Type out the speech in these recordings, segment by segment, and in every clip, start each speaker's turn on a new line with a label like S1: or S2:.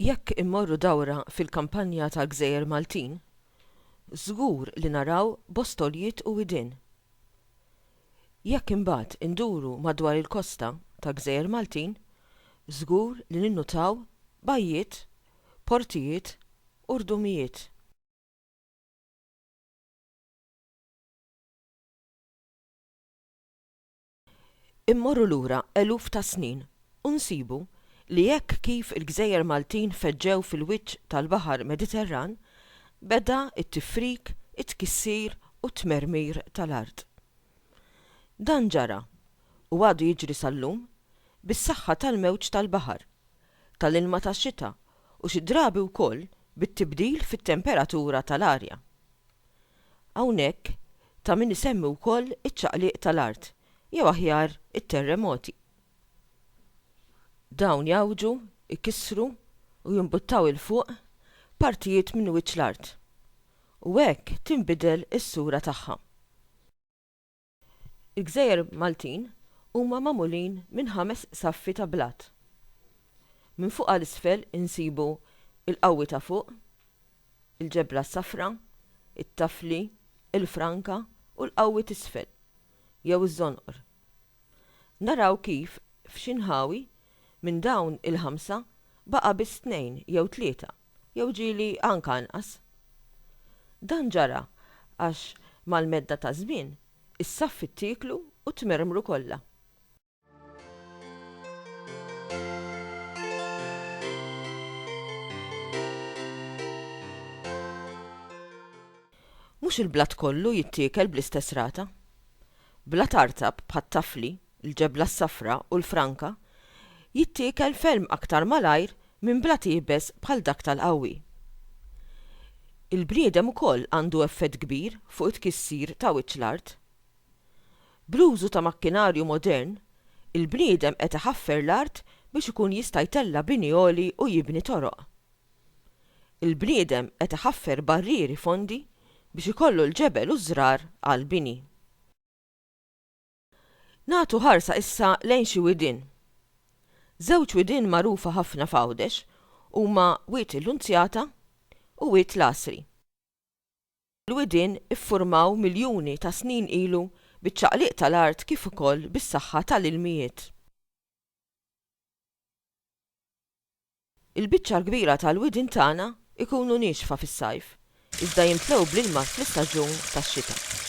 S1: Jekk immorru dawra fil-kampanja tal-gżejjer Maltin, żgur li naraw bostoljiet u widien. Jekk imbagħad induru madwar il-kosta ta' gżejjer Maltin, żgur li ninnutaw bajjiet, portijiet u rdumijiet. Immorru lura eluf ta' snin u nsibu li hekk kif il-gżejjer Maltin feġġew fil-wiċċ tal-Baħar Mediterran, beda t-tifrik, it-tkissir u t-tmermir tal-art. Dan ġara, u għadu jiġri sal-lum, bis-saħħa tal-mewġ tal-baħar, tal-ilma tax-xita u xi drabi wkoll bit-tibdil fit-temperatura tal-arja. Hawnhekk ta' min isemmi wkoll iċ-ċaqliq tal-art, jew aħjar it-terremoti. Dawn jgħawġu, ikissru u jimbuttaw 'il fuq partijiet minn wiċċ l-art, u hekk tinbidel is-sura tagħha. Il-gżejjer Maltin huma magħmulin minn ħames saffi ta' blat. Minn fuq għal isfel insibu il-qawwi ta' fuq, il-ġebla s-safra, it-tafli, il-franka u l-qawwi t'isfel, jew iż-żonqor. Naraw kif f'xi nħawi Minn dawn il-ħamsa baqa' biss tnejn jew tlieta jew ġieli anke anqas. Dan ġara għax mal-medda taż-żmien is-saffi ttieklu u tmermru kollha. Mhux il-blat kollu jittiekel bl-istess rata. Blat artab bħat-tafli l-ġebla s-safra u l-franka, jittiekel ferm aktar malajr minn blat iebes bħal dak tal-qawwi. Il-bniedem ukoll għandu effett kbir fuq it-tkissir ta' wiċċ l-art. Bl-użu ta' makkinarju modern, il-bniedem qed iħaffer l-art biex ikun jista' jtella' bini għoli u jibni toroq. Il-bniedem qed iħaffer barrieri fondi biex ikollu l-ġebel u ż-żrar għall-bini. Nagħtu ħarsa issa lejn xi widien. Żewġ widien magħrufa ħafna f'Għawdex huma Wied il-Lunzjata u Wied l-Għasri. Dawn il-widien iffurmaw miljuni ta' snin ilu biċ-ċaqliq tal-art kif ukoll bis-saħħa tal-ilmijiet. Il-biċċa l-kbira tal-widien tagħna jkunu niexfa fis-sajf, iżda jimtlew bl-ilma fl-istaġun tax-xita.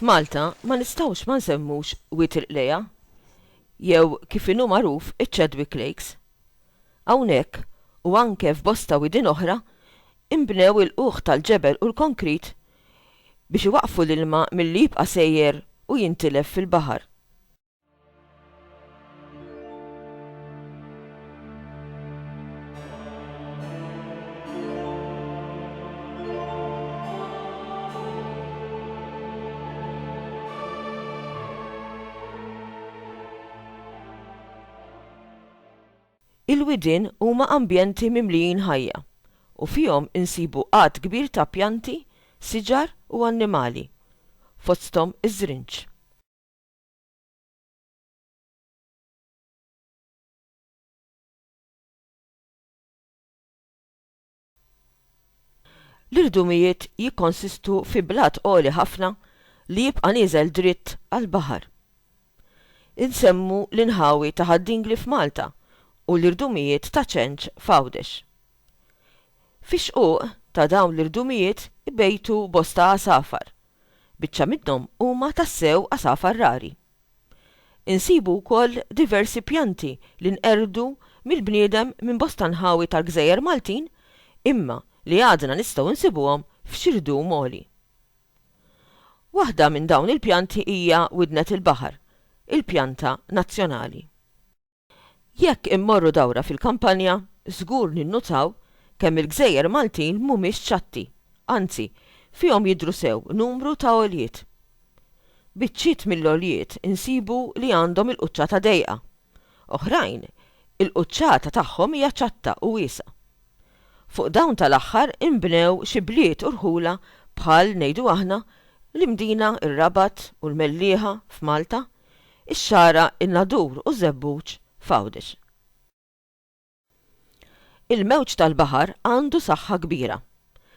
S1: F'Malta ma nistgħux ma nsemmux Wied il-Qlejgħa, jew kif inhu magħruf iċ-Chadwick Lakes. Hawnhekk, u anke f'bosta widien oħra, inbnew il-ħuħ tal-ġebel u l-konkrit biex iwaqqfu l-ilma milli jibqa' sejjer u jintilef fil-baħar. Il-widien huma ambjenti mimlijin ħajja u fihom insibu għadd kbir ta' pjanti, siġar u annimali, fosthom iż-żrinġ. L-irdumijiet jikkonsistu fi blat għoli ħafna li jibqa' nieżel dritt għall-baħar. Insemmu l-inħawi ta' Ħad Dingli f'Malta u l-irdumijiet ta' Ċenċ f'Għawdex. Fix-xquq ta' dawn l-irdumijiet ibejtu bosta għasafar Biċċa minnhom huma tassew għasafar rari. Insibu wkoll diversi pjanti li nqerdu mill-bniedem minn bosta nħawi tal-gżejjer Maltin imma li għadna nistgħu nsibuhom f'xi rdum għoli. Waħda minn dawn il-pjanti hija widnet il-baħar, il-pjanta nazzjonali. Jekk immorru dawra fil-kampanja, żgur ninnutaw kemm il-gżejjer Maltin mhumiex ċatti, anzi, fihom jidhru sew numru ta' għoljiet. Biċċiet mill-għoljiet insibu li għandhom il-quċċata dejqa. Oħrajn, il-quċċata tagħhom hija ċatta u wiesgħa. Fuq dawn tal-aħħar inbnew xi bliet u rħula bħal, ngħidu aħna, l-Imdina, ir-Rabat u l-Mellieħa f'Malta, ix-Xagħra, in-Nadur u Żebbuġ f'Għawdex. Il-mewġ tal-baħar għandu saħħa kbira,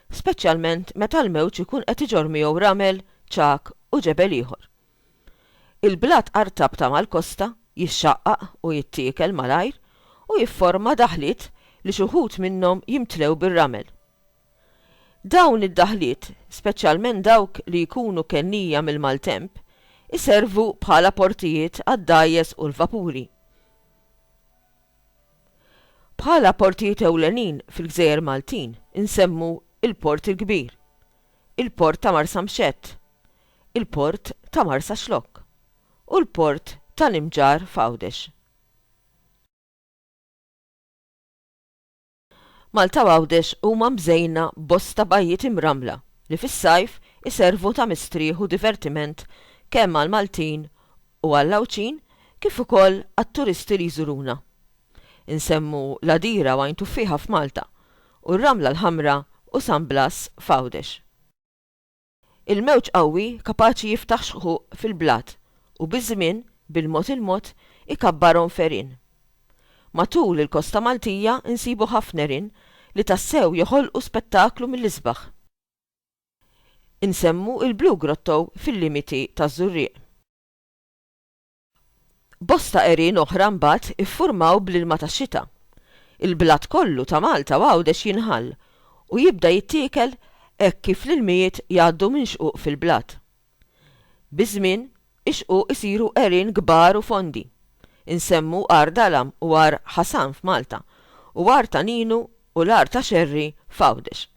S1: speċjalment meta l-mewġ ikun qed iġorr miegħu ramel, ċagħag u ġebel ieħor. Il-blat artab ta' mal-kosta jixxaqqaq u jittiekel malajr u jifforma daħliet li xi wħud minnhom jimtlew bir-ramel. Dawn id-daħliet, speċjalment dawk li jkunu kennija mill-maltemp, iservu bħala portijiet għad-dgħajjes u l-vapuri. Bħala portijiet ewlenin fil-gżejjer Maltin insemmu l-Port il-Kbir, il-Port ta' Marsamxett, il-Port ta' Marsaxlokk u l-Port ta' Nimġar f'Għawdex. Malta u Għawdex huma mżejna b'bosta bajjiet imrammla li fis-sajf iservu ta' mistrieħ u divertiment kemm għall-Maltin u għall-Għawdxin kif ukoll għat-turisti li jżuruna. Insemmu l-Għadira u Għajn Tuffieħa f'Malta u r-Ramla l-Ħamra u San Blas f'Għawdex. Il-mewġ qawwi kapaċi jiftaħ xquq fil-blat u biż-żmien, bil-mod il-mod, ikabbarhom f'għerien. Matul il-kosta Maltija nsibu ħafna għerien li tassew joħolqu spettaklu mill-isbaħ. Insemmu il-Blue Grotto fil-limiti taż-Żurrieq. Bosta għerien oħra mbagħad iffurmaw bl-ilma tax-xita. Il-blat kollu ta' Malta u Għawdex jinħall u jibda jittiekel hekk kif l-ilmijiet jgħaddu minn xquq fil-blat. Biż-żmien, ix-xquq isiru għerien kbar u fondi. Insemmu Għar Dalam u Għar Ħasan f'Malta u Għar ta' Ninu u l-Għar ta' Xerri f'Għawdex.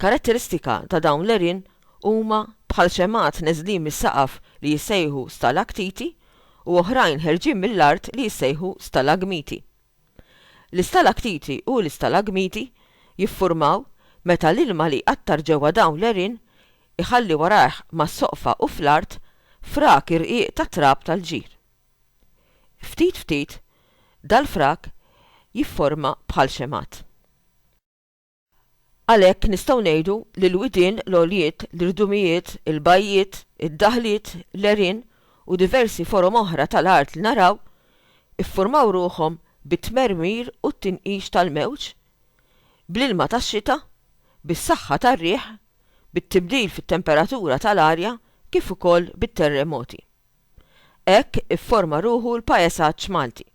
S1: Karatteristika ta' dawn l-għerien huma bħal xemgħat neżlin mis-saqaf li jissejħu stalaktiti u oħrajn ħerġin mill-art li jissejħu stalagmiti. L-istalaktiti u l-istalagmiti jiffurmaw meta l-ilma li jqattar ġewwa dawn l-għerien iħalli warajh mas-soqfa u fl-art frak irqiq ta' trab tal-ġir. Ftit ftit, dal-frak jifforma bħal xemgħat. Għalhekk nistgħu ngħidu li l-widien, l-għoljiet, l-irdumijiet, il-bajjiet, id-daħliet, l-għerien u diversi forom oħra tal-art li naraw, iffurmaw ruħhom bit-tmermir u t-tinqix tal-mewġ, bl-ilma tax-xita, bis-saħħa tar-riħ, bit-tibdil fit-temperatura tal-arja kif ukoll bit-terremoti. Hekk ifforma ruħu l-paesaġġ Malti,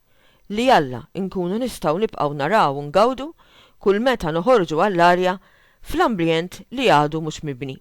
S1: li jalla nkunu nistgħu nibqgħu naraw u ngawdu kull meta noħorġu għall-arja fl-ambljent li għadu mhux mibni.